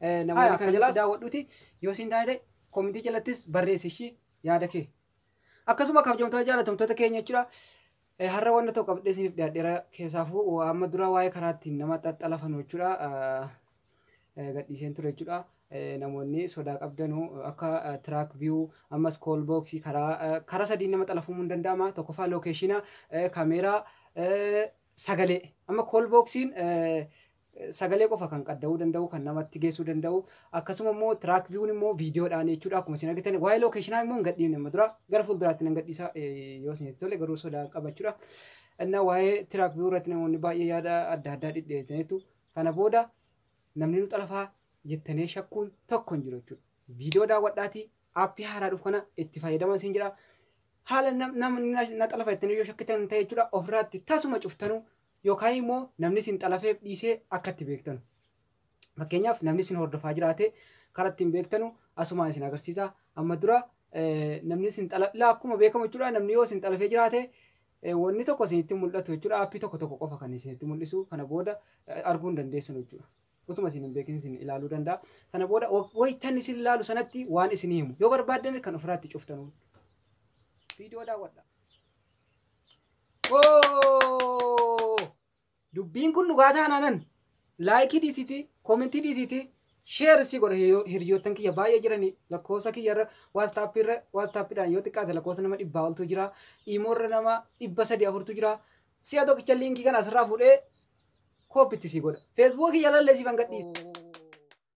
Namoonni kana jalatti daawwadhuuti yoo siin taate komentii jalattis barreessi ishii yaada kee. Akkasuma kabajamtoota jaalatamtoota keenya jechuudha. Har'a wanta tokko qabdee isiniif dhiyaadheera keessaafuu amma dura waa'ee karaa ittiin nama xaxxalafanu jechuudha. Gadhiiseen ture jechuudha. Namoonni sodaa qabdanu akka tiraak viyuu ammas kool booksii karaa karaa sadiin nama xalafuun hin danda'ama. Tokkoffaa lookeeshina kaameeraa sagalee amma kool booksiin sagalee qofa kan qadda'uu danda'u kan namatti geessuu danda'u akkasuma immoo tiraak viiwun immoo viidiyoodhaan jechuudha akkuma isin argitan waa'ee lookeeshinaa immoo hin gadhiifne amma dura gara fuulduraatti nan gadhiisa yoo isinitti tole garuu sodaa qabachuudha innaa waa'ee tiraak viiwuu irratti namoonni baay'ee yaada adda addaa dhidhiyeessaniitu kana booda namni nu xalafaa jettanii shakkuun tokko hin jiru jechuudha viidiyoo daawwadhaatii aappii haaraa dhufu kana itti fayyadamaa isin jira haala namni na xalafa jettanii yoo shakkitan ta'e jechuudha ofirraatti tasuma cuftanuu Yookaan immoo namni isin xalafeef dhiisee akka itti beektanu. Fakkeenyaaf namni isin hordofaa jiraate karaa ittiin beektanu asumaan isin agarsiisa. Amma dura eh, namni isin xalaf ilaa akkuma beekamu jechuudha namni yoo isin xalafee jiraate eh, wanni tokko isinitti hin mul'atu jechuudha aappii tokko tokko qofa kan isinitti mul'isu kana booda eh, arguu hin dandeessanu jechuudha. Utuma isin hin beekin isin ilaaluu danda'a. Sana booda wa- waytan isin ilaalu sanatti waan isin himu yoo barbaaddan kan ofirraatti cuftanuun. Viidiyoo daawwadha. Oo! Dubbiin kun dhugaa taanaanan laayikii dhiisiitii, koomentii dhiisiitii, sheer si godha hiriyoo- hiriyoottan kiyya baay'ee jiranii lakkoofsa kiyya irra waastaappii irra waastaappidhaan yoo xiqqaate lakkoofsa nama dhibbaa oltu jira imoo irra nama dhibba sadii afurtu jira si'a tokkicha liinkii kana asirraa fuudhee kooppitti si godha feesbuukii kiyya irra illee siif hanga dhiisa.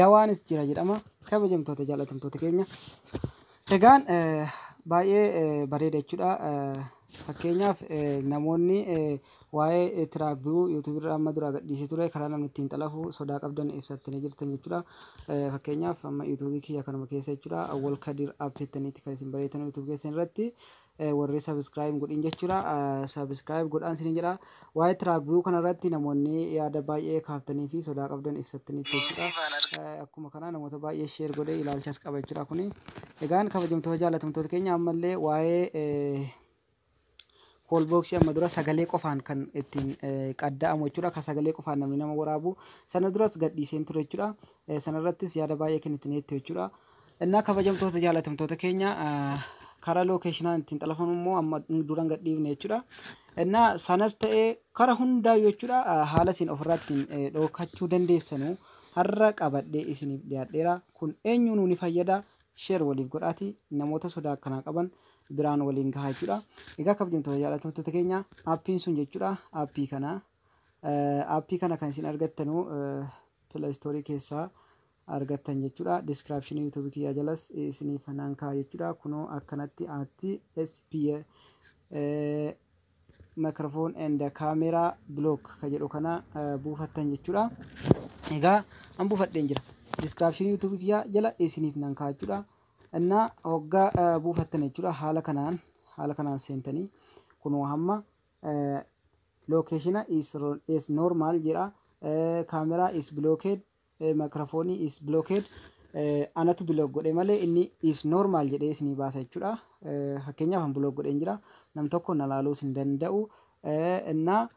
dawaanis jira jedhama kabajamtoota jaalatamtoota keenya egaan baay'ee bareeda jechuudha fakkeenyaaf namoonni waa'ee tiraak bi'uu yuutuubii irraa amma duraa gadhiisee ture karaa namni ittiin xalafu sodaa qabdan ibsattanii jirtan jechuudha fakkeenyaaf amma yuutuubii kiyya kanuma keessa jechuudha awwal kadir app jettaniitti kan isin bareetan yuutuubii keessan irratti warri subscribe hin godhin jechuudha subscribe godhaan isiniin jedha waa'ee track view kana irratti namoonni yaada baay'ee kaaftanii fi sodaa qabdan ibsattanii jechuudha akkuma kana namoota baay'ee share godhee ilaalchas qaba jechuudha kuni egaan kabajamtoota jaalatamtoota keenya ammallee waa'ee koolbooksii amma dura sagalee qofaan kan ittiin qadda'amu jechuudha kan sagalee qofaan namni nama waraabu sana duras gadhiiseen ture jechuudha sanarrattis yaada baay'ee kennitaniittu jechuudha Innaa kabajamtoota jaalatamtoota keenya karaa lookeeshinaan ittiin xalafamu immoo amma duran gad dhiifne jechuudha. Innaa sanas ta'ee karaa hundaayyuu jechuudha haala isin ofirraa ittiin dhookachuu dandeessanu har'a qabadhee isiniif dhiyaadheera. Kun eenyuunuu ni fayyada. Sheer waliif godhaatii namoota sodaa akkanaa qaban biraan waliin gahaa jechuudha. Egaa kabajamtoota jaalatamtoota keenya aappiin sun jechuudha aappii kana aappii kana kan isin argattanu Play Store keessaa argattan jechuudha. Description YouTube kiyyaa jalas isiniif nan kaa'a jechuudha. Kunoo akkanatti aatti SPA eh, microphone and camera block ka jedhu kana eh, buufattan jechuudha. Egaa an buufadheen jira. Description YouTube kiyyaa jala isiniif nan kaa'a jechuudha. Innaa hoggaa eh, buufattan jechuudha haala kanaan haala kanaan seentanii kunoo hamma eh, Location is normal jedha. Camera is blocked. Microphone is blocked. Anatu block godhe malee inni is normal jedhee isinii baasa jechuudha. Fakkeenyaaf an block godheen jira. Nam tokko na laaluus hin danda'u. Innaa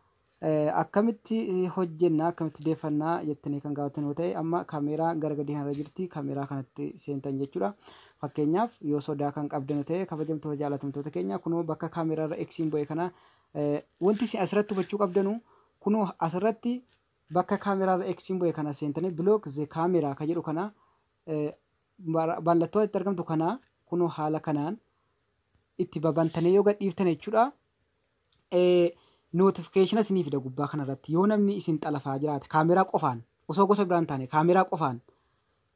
akkamitti hojjenna akkamitti deeffannaa jettanii kan gaafattan yoo ta'e amma kameeraa gara gadii kanarra jirti kameeraa kanatti seentan jechuudha. Fakkeenyaaf yoo sodaa kan qabdan yoo ta'e kabajamtoota jaalatamtoota keenya kunoo bakka kameeraarra eksiin bu'e kana Wanti isin asirratti hubachuu qabdanu kunoo asirratti bakka camera irra X bu'e kana seentanii block the camera ka jedhu kana mallattoo itti argamtu kana kunoo haala kanaan itti babantanii yoo gadhiiftan jechuudha. Notification isinii fida gubbaa kanarratti yoo namni isin xalafaa jiraate kaameraa qofaan osoo gosa biraan taane kaameraa qofaan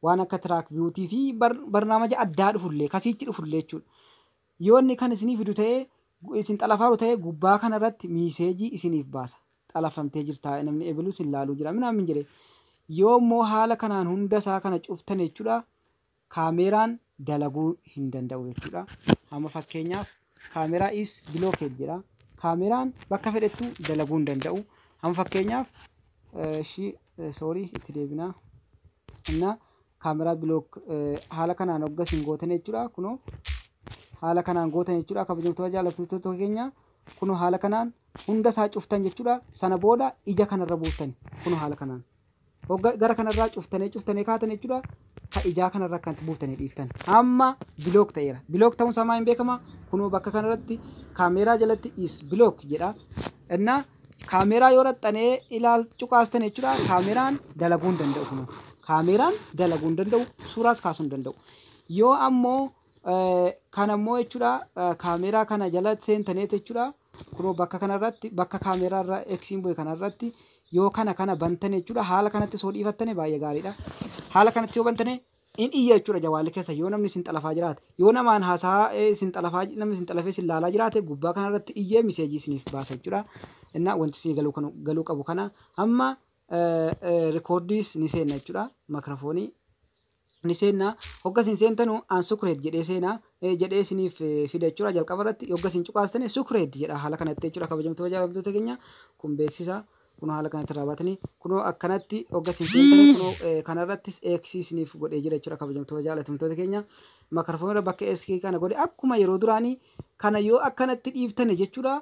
waan akka track viewtii fi barnaamaja addaa dhufullee kasiichi dhufullee jechuudha. Yoo inni kan isinii fidu ta'e, isin xalafaaru ta'e gubbaa kana irratti miiseejii isiniif baasa. Xalafamtee jirtaa, namni ebelu sin laaluu jira minaamin jedhee. Yoo immoo haala kanaan hunda isaa kana cuftan jechuudha kaameeraan dalaguu hin danda'u jechuudha. Amma fakkeenyaaf kaameeraa is blocked jedha. Kaameeraan bakka fedhettu dalaguu hin danda'u. Amma fakkeenyaaf ishii sorry itti deebinaa. Inna camera block haala kanaan hogga isin gootan jechuudha kuno haala kanaan gootan jechuudha kabajamtoota jaallattoota keenya kuno haala kanaan hunda isaa cuftan jechuudha sana booda ija kanarra buuftan kuno haala kanaan hogga gara kanarraa cuftanee cuftanee kaatan jechuudha ka ijaa kanarra akkanatti buuftanii dhiiftan amma bilook ta'eera bilook ta'uun isaa maa hin beekama kuno bakka kanarratti kaameeraa jalatti is bilook jedha innaa Kaameeraa yoo dhaxxanee ilaal cuqaastan jechuudha. Kaameeraan dalaguu hin danda'u kun. Kaameeraan dalaguu hin danda'u, suuraas kaasuu hin danda'u. Yoo ammoo eh, kan ammoo jechuudha eh, kaameeraa kana jala seentaneet jechuudha. Kunoo bakka kanarratti bakka kaameeraa irra eksiin bu'e kanarratti yoo kana kana bantan jechuudha. Haala kanatti soo dhiifattane baay'ee gaariidha. Haala kanatti yoo bantane in iyya jechuudha jawaalli keessan yoo namni isin xalafaa jiraate yoo namaan haasaa isin xalafaa namni isin xalafee isin laalaa jiraate gubbaa kana irratti iyyee miseejii isiniif baasa jechuudha innaa wanti isinii galuu kanu galuu qabu kana amma rikoordiis ni seenna jechuudha makirafoonii ni seenna hogga isin seentanu aan sukureed jedhee seena jedhee isiniif fida jechuudha jalqaba irratti hogga isin cuqaastane sukureed jedha haala kanatti jechuudha kabajamtoota jaallattoota keenya kun beeksisa Kunoo haala kanatti irraa baatanii kunoo akkanatti hogga isin seentanii kunoo eh, kanarrattis X isiniif godhee jira jechuudha kabajamtoota jaalatamtoota keenya. Makarfoon irra bakka SK kana godhe akkuma yeroo duraanii kana yoo akkanatti dhiiftane jechuudha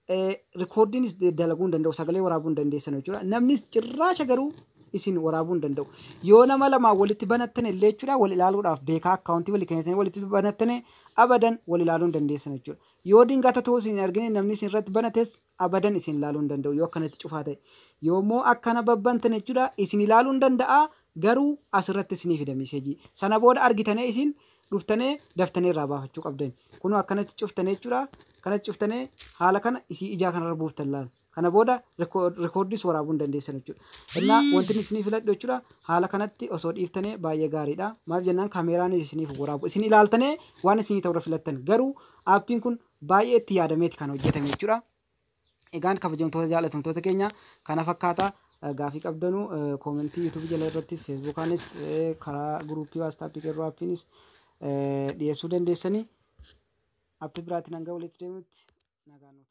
eh, rikoordiinis de- dalaguu hin danda'u sagalee waraabuu hin dandeessan jechuudha. Namnis cirraasha garuu isin waraabuu hin danda'u. Yoo nama lamaa walitti banattan illee jechuudha wal ilaaluudhaaf beekaa akkaawuntii walii kennitanii walitti banattane abadan wal ilaaluu hin dandeessan jechuudha. Yoo dingata ta'uu isin hin argine namni isin irratti banates Abadan isin ilaaluu hin danda'u yoo akkanatti cufaa ta'e. Yoommoo akkana babbantan jechuudha isin ilaaluu hin danda'a garuu asirratti isinii fida miseejii. Sana booda argitanee isin dhuftanee daftanee irraa baafachuu qabdani. Kunoo akkanatti cuftane jechuudha. Akkanatti cuftane haala kana isii ijaa kanarra buuftan laal. Kana booda rikoordiis waraabuu hin dandeessan jechuudha. Innaa wanti inni isinii filadhu jechuudha haala kanatti osoo dhiiftanee baay'ee gaariidha. Maaf jennaan kameeraanis isiniif waraabu. Isin ilaaltanee waan isinii ta'urra filattan. Garuu aappiin kun baay'ee itti yaadameeti kan hojjetame jechuudha. Egaan kabajamtoota jaalatamtoota keenya kana fakkaata gaafii qabdanuu koomentii yuutuubii jala irrattis feesbuukaanis karaa guruupii waastaappii qeerroo appiinis dhiyeessuu dandeessanii appi biraatiin hanga walitti deemutti nagaan nuuf